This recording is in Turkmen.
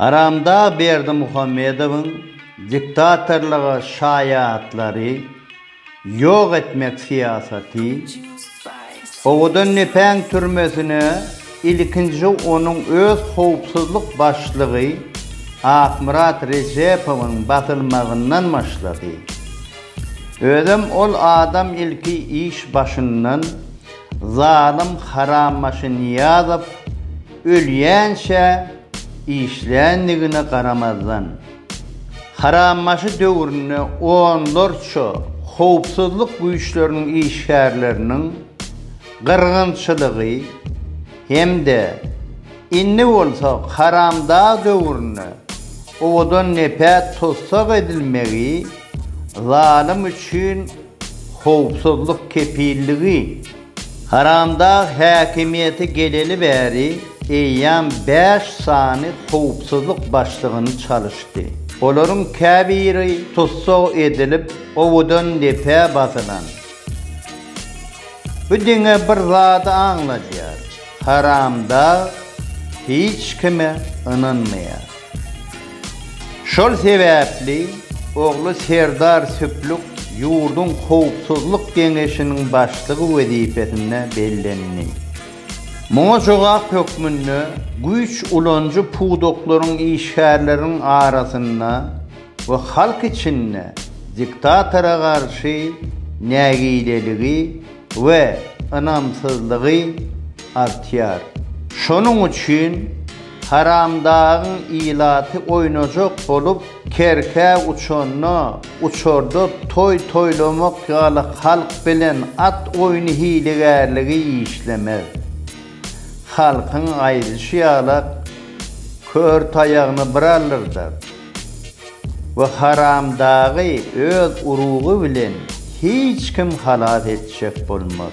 Aramdag Berdimuhamedowyň diktatorlyga şaýatlary ýok etmek syýasaty, owadan Nepeň türmesine ilkinji onuň öz howpsuzlyk başlygy Akmyrat Rejepowyň basylmagyndan başlady. Özem ol adam ilki iş başyndan zalym Harambaşy Nyýazow Ölýänçä işländigine garamazdan, Harambaşy döwründe onlarça howpsuzlyk güýçleriniň işgärleriniň gyrgynçylygy hem-de indi bolsa Haramdag döwründe owadan nepäk tussag edilmegi zalym üçin howpsuzlyk kepilligi Haramdag häkimiýete geleli bäri eýýäm bäş sany howpsuzlyk başlygyny çalyşdy. Olaryň käbiri tussag edilip, owadan depä basylan. Bu diňe bir zady aňladýar, Haramdag hiç kime ynanmaýar. Şol sebäpli ogly Serdar Süplük ýurduň Howpsuzlyk geňeşiniň başlygy wezipesine bellendi. Muňa jogap hökmünde güýç ulanyjy pudaklaryň işgärleriniň arasynda we halk içinde diktatora garşy nägileligi we ynamsyzlygy artýar. Şonuň üçin Haramdagyň ilaty oýnajak bolup kerkä uçanda, uçarda toý toýlamak ýaly halk bilen at oýny hilegärligi işlemez. Halkyň aýdyşy ýalak kör taýagyny bir aldyrdar we haramdagy öz urugy bilen hiç kim halas etjek bolmaz.